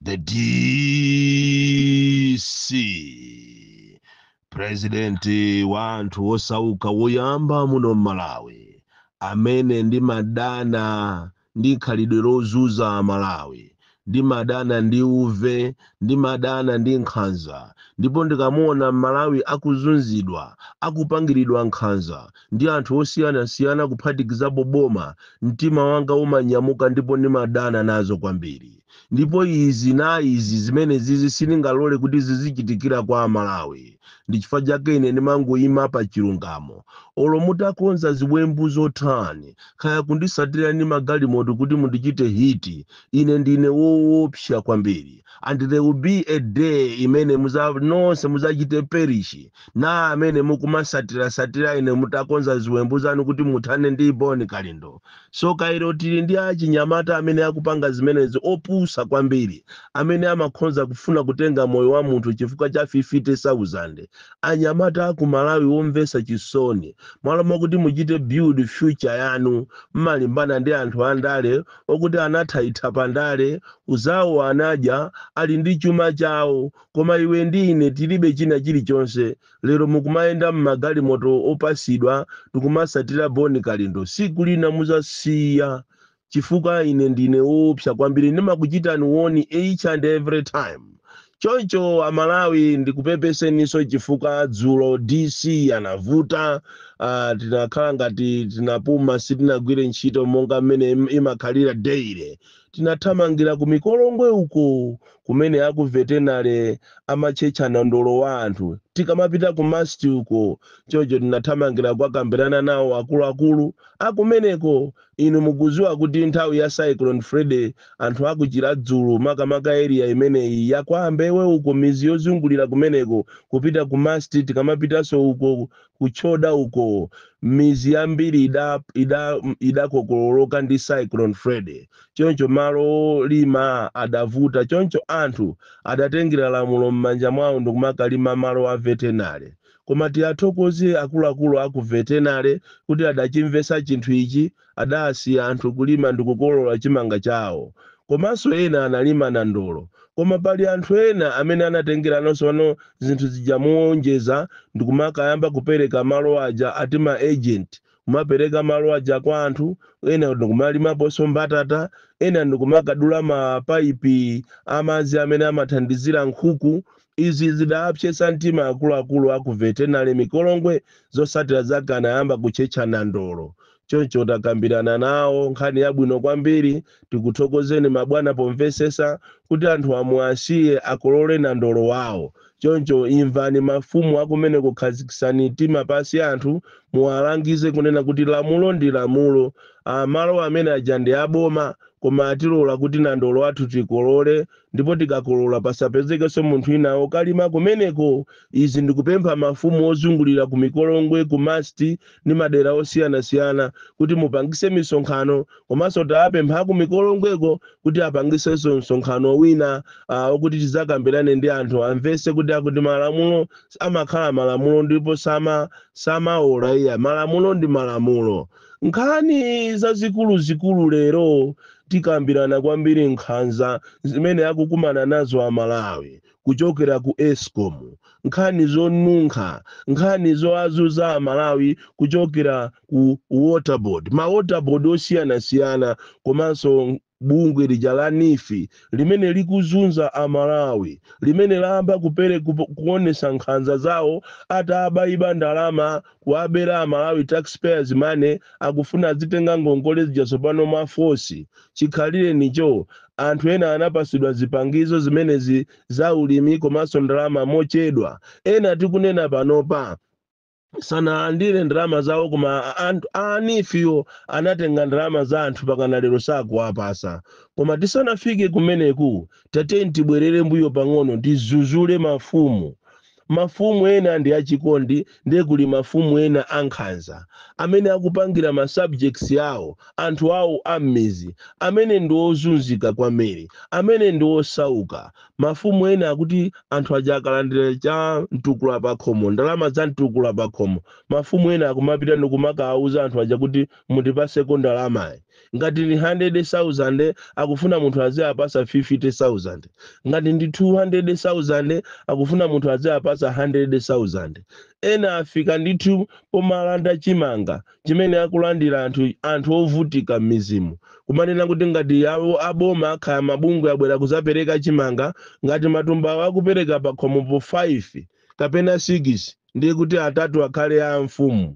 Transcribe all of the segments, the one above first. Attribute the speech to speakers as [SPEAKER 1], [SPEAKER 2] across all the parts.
[SPEAKER 1] the DC president wa anthu wosauka woyamba muno m'Malawi amene ndimadana ndi khalidwe lozunza m'Malawi ndimadana ndi uve Ndimadana ndi nkhanza ndipo ndikamuona m'Malawi akuzunzidwa, akupangiridwa nkhanza ndi anthu osiyanasiyana kuphatikizapo boma, mtima wanga umanyamuka ndipo ndimadana nazo kwambiri. Ndipo izi na izi zimenezizi sindingalole kuti zizichitikira kwa aMalawi. Ndi chifukwa chake ine ndimangoima pa chilungamo. Olo mutakonza ziwembu zotani, kaya kundisatira ndi magalimoto kuti mundichite hit, Ine ndine woopsa kwambiri. And there will be a day imene muza, nonse muzachite perish na amene mukumasatirasatira ine mutakonza ziwembu zanu kuti muthane ndi Bon Kalindo. Tsoka ilo tili ndi achinyamata amene akupanga zimenezi opusa kwambiri amene amakhonza kufuna kutenga moyo wa munthu chifukwa cha 50,000. Anyamata aku Malawi omvetsa chisoni. Mmalo mwakuti muchite build future yanu mmalimbana ndi anthu andale okuti anatha itha pa ndale zawo anadya ali ndi chuma chawo koma iwe ndi ine tilibe china chilichonse lero mukumayenda mmagalimoto opasidwa ndikumasatira Bon Kalindo siku lina muzasiya chifukwa ine ndine woopsa kwambiri ndimakuchitani warn each and every time Choncho amalawi ndikupepeseninso chifukwa dzulo DC anavuta uh, tinakhala ngati tinapuma sitinagwire ntchito monga mmene im- imakhalira daily tinathamangira ku mikolongwe uko kumene aku veterinary amatchetcha nandolo wa anthu tikamapita ku masti uko choncho tinathamangira kukakambirana nawo akuluakulu akumeneko Inu mukudziwa kuti nthawi ya Cyclone Freddy, anthu a ku Chiradzulu, makamaka area imeneyi ya kwa Ambewe uko, midzi yozungulira kumeneko, kupita ku Masti, tikamapitanso uko ku Choda uko, midzi yambiri ida, ida, idakokololoka ndi Cyclone Freddy. Choncho malo olima adavuta, choncho anthu adatengera lamulo m'manja mwawo ndikumakalima malo a veterinary. Koma tiathokoze akuluakulu a ku Veterinary kuti adachimvetsa chinthu ichi, adaasiya anthu kulima ndikukolola chimanga chawo. Komanso ena analima nandolo. Koma pali anthu ena amene anatengerano sono zinthu zija moonjeza ndikumakayamba kupereka malo aja ati ma agent, kumapereka malo aja kwa anthu, ena ndikumalimaponso mbatata, ena ndikumakadula mapaipi a madzi amene amathandizira nkhuku Izi zidaapsetsa mtima akuluakulu a ku Vetenale Mikolongwe zotsatira zake anayamba kutchetcha nandolo. Choncho takambirana nawo nkhani yabwino kwambiri. Tikuthokozeni mabwana pomvetsetsa kuti anthuwa muwasiye akolole nandolo wawo. Choncho imvani mafumu akumeneko khazikitsani mtima pansi anthu muwalangize kunena kuti lamulo ndi lamulo. Malo amene aja ndi a boma koma atilola kuti nandolo wathu tikolole ndipo tikakolola pasapezekenso munthu wina okalima kumeneko izi ndikupempha mafumu ozungulira ku mikolongwe ku masti ndi madera osiyanasiyana kuti mupangise misonkhano komanso tawapempha aku mikolongweko kuti apangisenso msonkhano wina okuti tizakambirane ndi anthu amvese kuti akuti malamulo amakhala malamulo ndipo samaola iya malamulo ndi malamulo nkhani zazikulu zikulu lero Tikambirana kwambiri nkhanza zimene akukumana nazo a Malawi kuchokera ku escom, nkhani zonunkha, nkhani zoazuza a Malawi kuchokera ku water board, ma water board osiyanasiyana komanso bungwe lija la neef limene likuzunza a Malawi, limene layamba kuperek, kuonesa nkhanza zawo ataabaiba ndalama kuwabera a Malawi tax payers money akufuna adzitenga ngongole zija tsopano mwa force chikhalirenicho anthu ena anapasidwa zipangizo zimenezi za ulimi komanso ndalama mochedwa ena tikunena panopa sanalandire ndalama zawo koma anthu a neefiwo anatenga ndalama za anthu pakana lero sakuwapasa koma tisanafike kumeneku tateni tibwerere mbuyo pang'ono tizuzule mafumu Mafumu ena ndi achikondi nde kuli mafumu ena ankhanza amene akupangira ma subjects awo anthu awo a mmizi amene ndi ozunzika kwambiri, amene ndi osauka. Mafumu ena akuti anthu aja akalandira cha mtukula pakhomo, ndalama za mtukula pakhomo, mafumu ena akumapita ndikumakawuza anthu aja kuti mundipaseko ndalamayi. ngati ndi 100,000 akufuna munthu aziapasa 50,000 ngati ndi 200,000 akufuna munthu aziapasa 100,000 ena afika ndithu pomalanda chimanga chimene akulandira anthu ovutika m'mizimu kumanena kuti ngati awo aboma akhala mabungwe abwera kuzapereka chimanga ngati matumbawo akupereka pakhomopo 5 kapena 6 ndiye kuti atatu akhale a amfumu.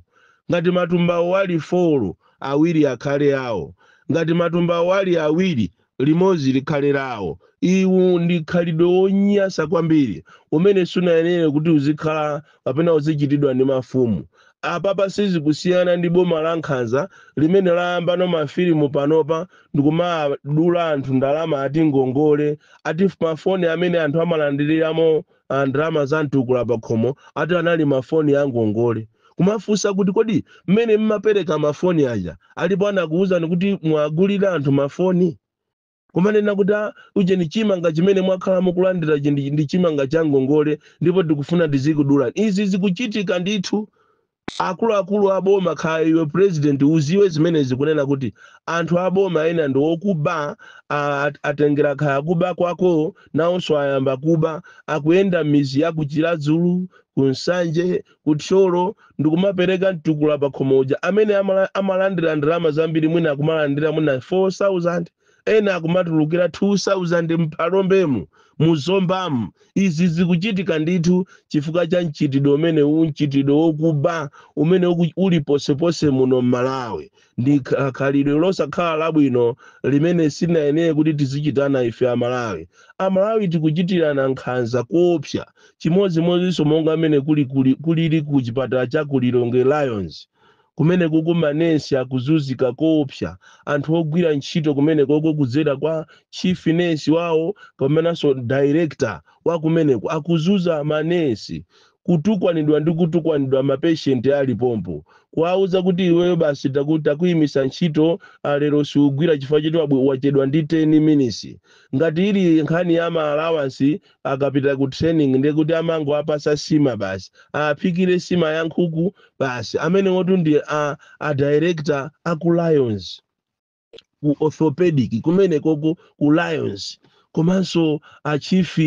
[SPEAKER 1] Ngati matumbawo ali 4, awiri akhale awo. Ngati matumbawo ali awiri, limodzi likhale lawo. Iwu ndi khalidwe wonyasa kwambiri umene sunayenere kuti uzikhala kapena uzichitidwa ndi mafumu. Apapa sizikusiyana ndi boma lankhanza limene layambano mafilimu panopa ndikumadula anthu ndalama ati ngongole, ati mafoni amene anthu amalandiriramo a ndalama za mtukula pakhomo ati anali mafoni a ngongole. Kumafunsa kuti kodi mmene mmapereka mafoni aja alipo anakuuzani kuti muwagulire anthu mafoni? Kumanena kuti ujeni chimanga chimene mwakhala mukulandirachi ndi ndi chimanga cha ngongole ndipo tikufuna tizikudulani. Izi zikuchitika ndithu Akuluakulu a boma kaya iwe president uziwe zimenezi kunena kuti anthu a boma ena ndi okuba a, at- atengera kaya kuba kwako nawonso ayamba kuba akuyenda m'midzi ya ku Chiradzulu ku Nsanje ku Thyolo ndikumapereka mtukula pa khomo uja amene amala, amalandira ndalama zambiri mwina akumalandira mwina 4000 ena akumatulukira 2000 m'Phalombemu, mu Zombamu. Izi zikuchitika ndithu chifukwa cha mchitidwe umenewu mchitidwe wokuba umene uku- uli ponseponse muno m'Malawi. Ndi kha- khalidwe losakhala labwino limene silinayenere kuti tizichitana ife Amalawi. Amalawi tikuchitirana nkhanza koopsa, chimodzimodzinso monga mmene kuli kuli- kulili ku chipatala cha ku Lilongwe Lions. kumenekoko manesi akuzunzika koopsa, anthu ogwira ntchito kumenekoko kudzera kwa chief nesi wawo komanso director wa kumeneko akuzunza manesi, kutukwanidwa ndi kutukwanidwa ma patient ali pompo, kuwauza kuti iweyo basi taku takuimisa ntchito a lero siugwira chifukwa choti wabwe wachedwa ndi 10 minisi, ngati ili nkhani ya ma allowance akapita ku training ndiye kuti amangowapasa sima basi aphikire sima ya nkhuku basi amenewotu ndi a, a director a ku lions ku orthopedic kumeneko ku, ku lions komanso a chief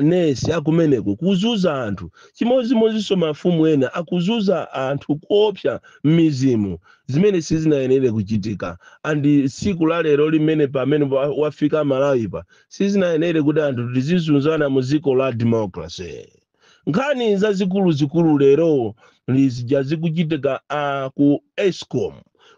[SPEAKER 1] nesi akumeneko kuzunza anthu chimodzimodzinso mafumu ena akuzunza anthu koopsa m'midzimu zimene sizinayenere kuchitika andi tsiku la lero limene pamene wa- wafika malawipa sizinayenere kuti anthu tizizunzana mu dziko la democracy nkhani zazikuluzikulu lero lizija zikuchitika a ku escom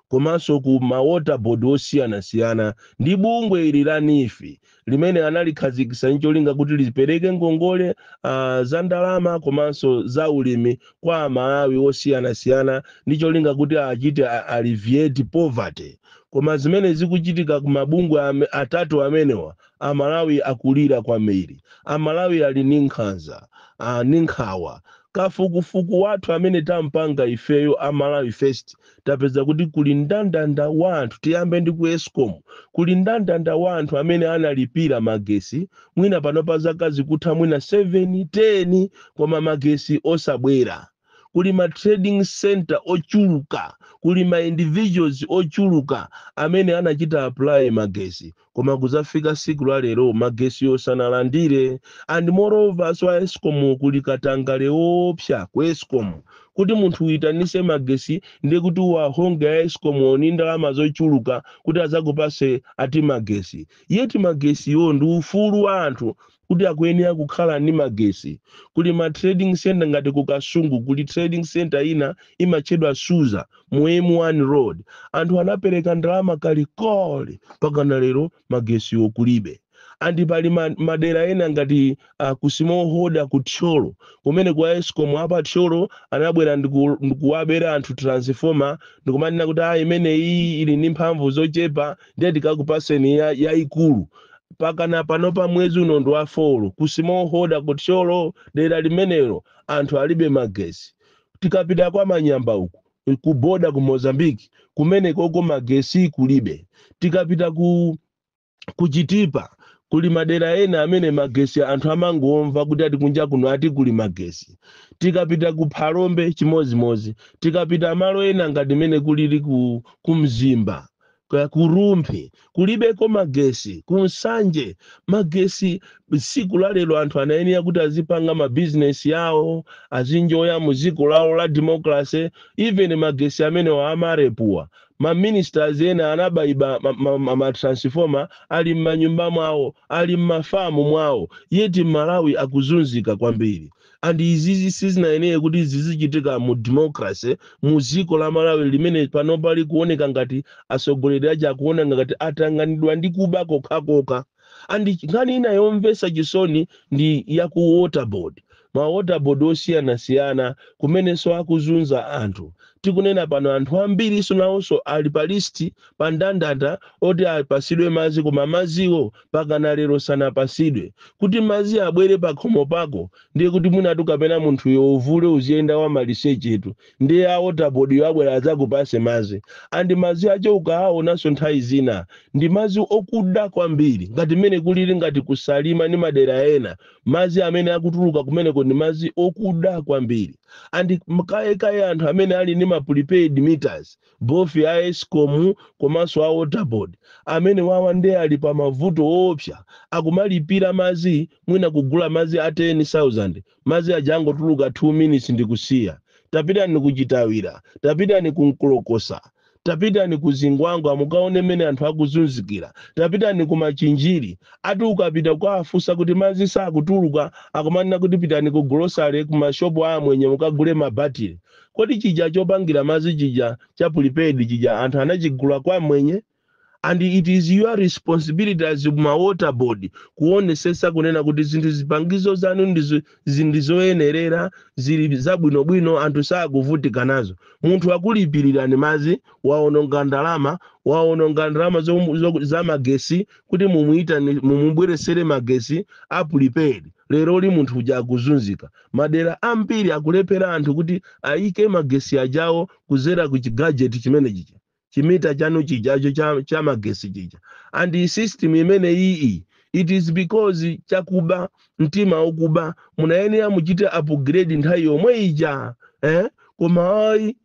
[SPEAKER 1] komanso ku mawater board osiyanasiyana ndi bungwe ili la NEEF limene analikhazikitsa ncholinga kuti lipereke ngongole uh, za ndalama komanso za ulimi kwa amalawi osiyanasiyana ndi cholinga kuti achite a- alleviate poverty Koma zimene zikuchitika ku mabungwe ame, atatu amenewa, Amalawi akulira kwambiri. Amalawi ali ndi nkhanza, a, ndi nkhawa. Kafukufuku wathu amene tapanga ifeyo a Malawi First tapeza kuti kuli ndandanda wa anthu, tiyambe ndi ku Escom, kuli ndandanda wa anthu amene analipira magesi mwina panopa zaka zikutha mwina 7, 10 koma magesi osabwera. kuli ma trading centre ochuluka, kuli ma individuals ochuluka amene anachita apply magesi koma kuzafika siku la lero magesiyo sanalandire and moreover so a escom kuli katangale woopsa ku escom kuti munthu uyitanise magesi ndiye kuti uwahonge a escom wo ni ndalama zochuluka kuti azakupase ati magesi yet magesiwo ndi ufulu wa anthu kuti akuyenera kukhala ndi magesi, kuli ma trading centre ngati ku Kasungu kuli trading centre ina imatchedwa Suza mu M1 road, anthu anapereka ndalama kalikole mpakana lero magesiwo kulibe. And pali madera ena ngati ku small holder ku Thyolo kumene kwa Escom apa Thyolo anabwera ndikuwabera anthu transformer ndikumanena kuti ah imeneyi ili ndi mphamvu zochepa ndiye tikakupaseni yayikulu pakana panopa mwezi uno ndi wa four ku small holder ku thyolo dera limenelo anthu alibe magesi tikapita kwa manyamba uku ku boda ku mozambique kumenekoko magesi kulibe tikapita ku chitipa kuli madera ena amene magesi anthu amangomva kuti ati kunja kuno ati kuli magesi tikapita ku phalombe chimodzimodzi tikapita malo ena ngati mene kulili ku mzimba ku rumphi kulibeko magesi ku nsanje magesi siku la lero anthu anayenera kuti azipanga mabizinesi yawo azinjoya mu ziko lawo la democracy even magesi amenewo a MAREP wa maministers ena anabayiba ma transformer ali m'manyumba mwawo ali m'mafamu mwawo yet mmalawi akuzunzika kwambiri and izizi sizinayenera kuti zizichitika mu democracy mu dziko la malawi limene panopa likuoneka ngati atsogoleri aja akuona ngati atanganidwa ndi kuba kokhakokha and nkhani ina yomvetsa chisoni ndi ya ku waterboard ma waterboard osiyanasiyana kumenenso akuzunza anthu tikunena pano anthu ambiri nawonso ali pa list pa ndandanda oti apasidwe madzi koma madziwo pakana lero sanapasidwe kuti mazi abwere pakhomo pako ndiye kuti mwinatu kapena munthuyo uvule uziyenda wamalisechetu ndiye a waterboardwo abwera adzakupase mazi and mazi akewo ukaawonanso nthawi zina ndi mazi okuda kwambiri ngati mmene kulili ngati kusalima ndi madera ena mazi amene akutuluka kumeneko ndi mazi okuda kwambiri and kayekaye anthu amene ali ndi ma prepaid meters both a escom komanso a water board amene wawa nde ali pa mavuto oopsa akumalipira madzi mwina kugula madzi a 10000 madzi aja angotuluka 2 minutes ndikusiya tapitani ku chitawira tapitani ku mkolokosa tapitani ku zingwangwa mukaone mmene anthu akuzunzikira tapitani ku machinjiri ati ukapita kukawafunsa kuti madzi sakutuluka akumanena kuti pitani ku golosale ku mashopu a amwenye mukagule mabatile kodi chija chopangira madzi chija cha prepaid chija anthu anachigula kwa amwenye and it is your responsibility as ma water board kuonesesa kunena kuti zinthu zipangizo zanu ndizo- zi- ndizoyenerera zili zabwinobwino anthu sakuvutika nazo munthu akulipirirani madzi waononga ndalama waononga ndalama za magesi kuti mumubweresere magesi a prepaid lero li munthu uja akuzunzika madera ambiri akulephera anthu kuti ayike magesi ajawo kuzera ku chigajeti chimene chicha chimita chanu chijacho cha, cha magesi chicha and the system imene iyi it is because chakuba mtima wokuba munayenera muchite upgrade nthawi yomwe ija eh? koma ayi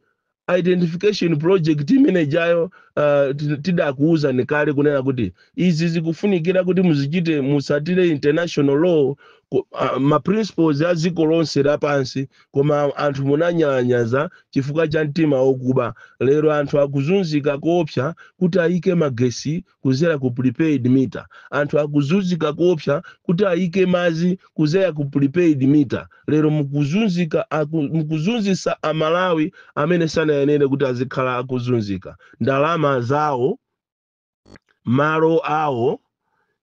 [SPEAKER 1] identification project imene ijayo uh, ti- tidakuwuzani kale kunena kuti izi zikufunikira kuti muzichite musatire international law ku- ah, ma principles a dziko lonse lapansi koma anthu munanyalanyaza chifukwa cha mtima wokuba lero anthu akuzunzika koopsa kuti ayike magesi kuzera ku prepaid meter anthu akuzunzika koopsa kuti ayike madzi kuzera ku prepaid meter lero mukuzunzika aku- mukuzunzisa amalawi amene sanayenere kuti azikhala akuzunzika ndalama zawo malo awo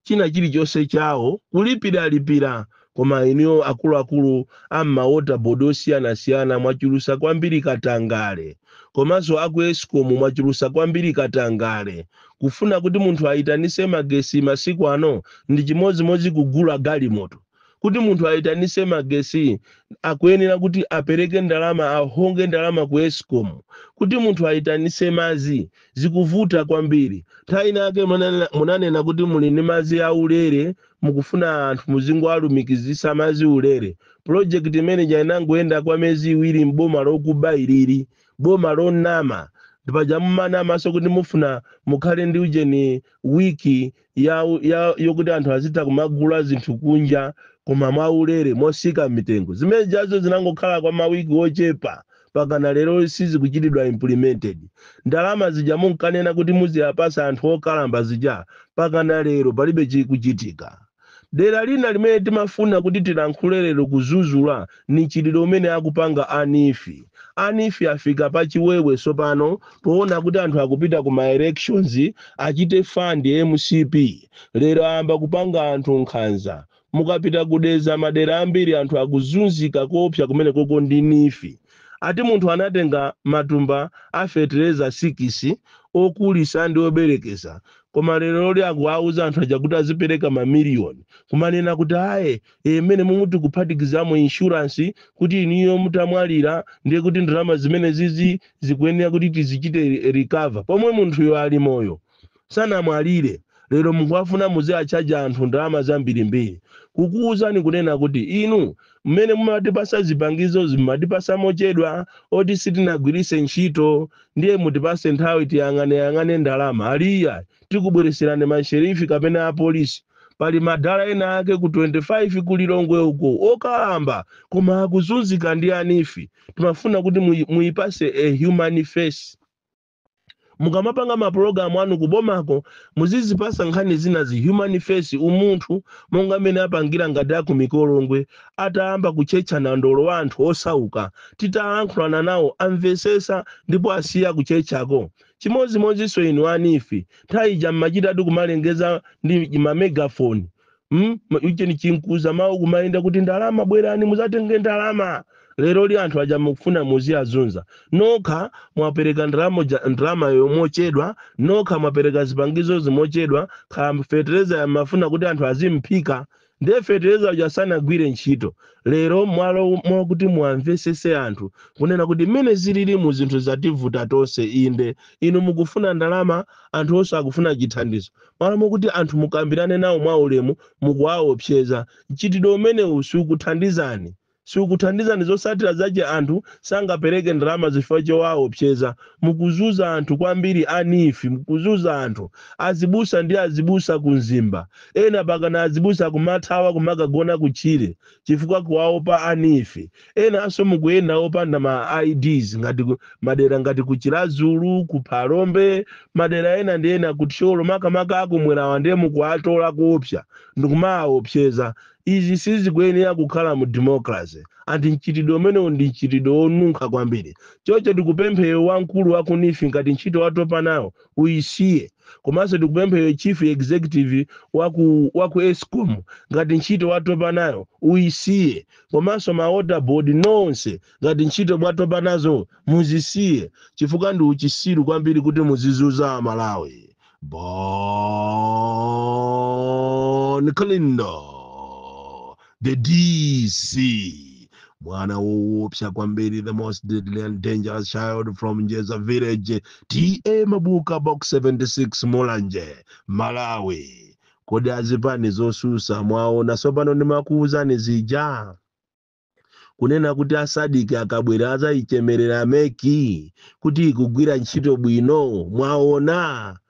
[SPEAKER 1] china chilichonse chawo kulipiralipira koma inuyo akuluakulu a m'ma water board osiyanasiyana mwachulusa kwambiri katangale komanso aku escom mwachulusa kwambiri katangale kufuna kuti munthu ayitanise magesi masiku ano ndi chimodzimodzi kugula galimoto kuti munthu ayitanise magesi akuyenera kuti apereke ndalama ahonge ndalama ku escom kuti munthu ayitanise madzi zikuvuta kwambiri nthawi inayake munanena- munanena kuti muli ndi madzi aulere mukufuna anthu muzingoalumikizisa mazi ulere project imeneija inangoyenda kwa mezi iwiri m'boma lokuba ilili boma lonama ndipaja mumanamaso kuti mufuna mukhale ndi ujeni wiki ya, ya, yokuti anthu azitha kumagula zinthu kunja koma mwaulere mosika mitengo zimene jazo zinangokhala kwa mawiki ochepa pakana lero sizikuchitidwa implemented ndalama zija munkanena kuti muziyapasa anthu okalamba zija pakana lero palibe chikuchitika dera lina limene timafuna kuti tilankhule lero kuzuzula ni mchitidwe umene akupanga a NEEF a NEEF afika pa chiwewe sopano poona kuti anthu akupita ku ma elections achite fund mcp lero ayamba kupanga anthu nkhanza Mukapita ku Dedza madera ambiri anthu akuzunzika koopsa kumenekoko ndi NEEF. Ati munthu anatenga matumba a fetereza sikisi okulisa ndi oberekesa koma leroli akuwauza anthu aja kuti azipereka ma miliyoni kumanena kuti aye ee mmenemumu tikuphatikizamo insurance kuti inuyo mutamwalira ndiye kuti ndalama zimenezizi zikuyenera kuti tizichite recover pomwe munthuyo ali moyo. sanamwalire lero mukuwafuna muziwatchaja anthu ndalama zambirimbiri kukuwuzani kunena kuti inu mmene mumatipasa zipangizozi mumatipasa mochedwa oti sitinagwirise ntchito ndiye mutipase nthawi tiyang'aneyang'ane ndalama ali ayi tikubwereserani masherifi kapena apolisi pali madala ena ake ku 25 ku lilongwe uko okalamba koma akuzunzika ndi a NEEF timafuna kuti muyi- muyipase a human face mukamapanga mapulogalamu anu kubomako muzizipasa nkhani zinazi human face umunthu monga mmene apangira ngati a ku Mikolongwe atayamba kutchetcha nandolo wa anthu osauka titalankhulana nawo amvesesa ndipo asiya kutchetchako chimodzimodzinso inu a NEEF nthawi ija mmachitatu kumalengeza ndi mamegafoni Mm? Ma- ujeni chinkuzamawu kumayenda kuti ndalama bwerani muzatenge ndalama leroli anthu aja mukufuna muziwazunza nokha mwapereka ndalama ja- ndalamayo mochedwa nokha mwapereka zipangizozi mochedwa nokha fetereza yamafuna kuti anthu azimphika ndiye fetereza uja sanagwire ntchito lero m'malo mwakuti muwamvesese anthu kunena kuti mmene zililimu zinthu zativuta tonse inde inu mukufuna ndalama anthu onse akufuna chithandizo M'malo mokuti anthu mukambirane nawo mwaulemu, mukuwaopseza. Mchitidwe umenewu sukuthandizani. Sukuthandizani. Zotsatira zache anthu sangapereke ndalama chifukwa chowaopseza. Mukuzuza anthu kwambiri a NEEF. Mukuzuza anthu. Azibusa ndi azibusa ku Mzimba. Ena pakana azibusa kumathawa kumakagona kutchire chifukwa kuwaopa a NEEF. Enanso mukuyenda opanda ma IDs ngati ku- madera ngati ku Chiradzulu, ku Phalombe, madera ena ndi ena ku Thyolo makamaka akumwerawa ndiye mukuwatola koopsa ndikumawaopseza. Izi sizikuyenera kukhala mu democracy and mchitidwe umenewu ndi mchitidwe wonunkha kwambiri. Choncho tikupemphe iwo wamkulu wa ku NEEF ngati ntchito watopa nayo uyisiye komanso tikupempha iwe chief executive waku waku escom ngati ntchito watopa nayo uyisiye komanso ma water board nonse ngati ntchito mwatopa nazo muzisiye chifukwa ndi uchisiru kwambiri kuti muzizuza amalawi bon kalindo the dc mwana woopsa kwambiri the most deadly and dangerous child from njeza village ta mabuka box 76 mulanje malawi kodi azipani zosusa mwaona sopano ndimakuuzani zija kunena kuti asadiki akabwera azayichemerera meki kuti ikugwira ntchito bwino mwaona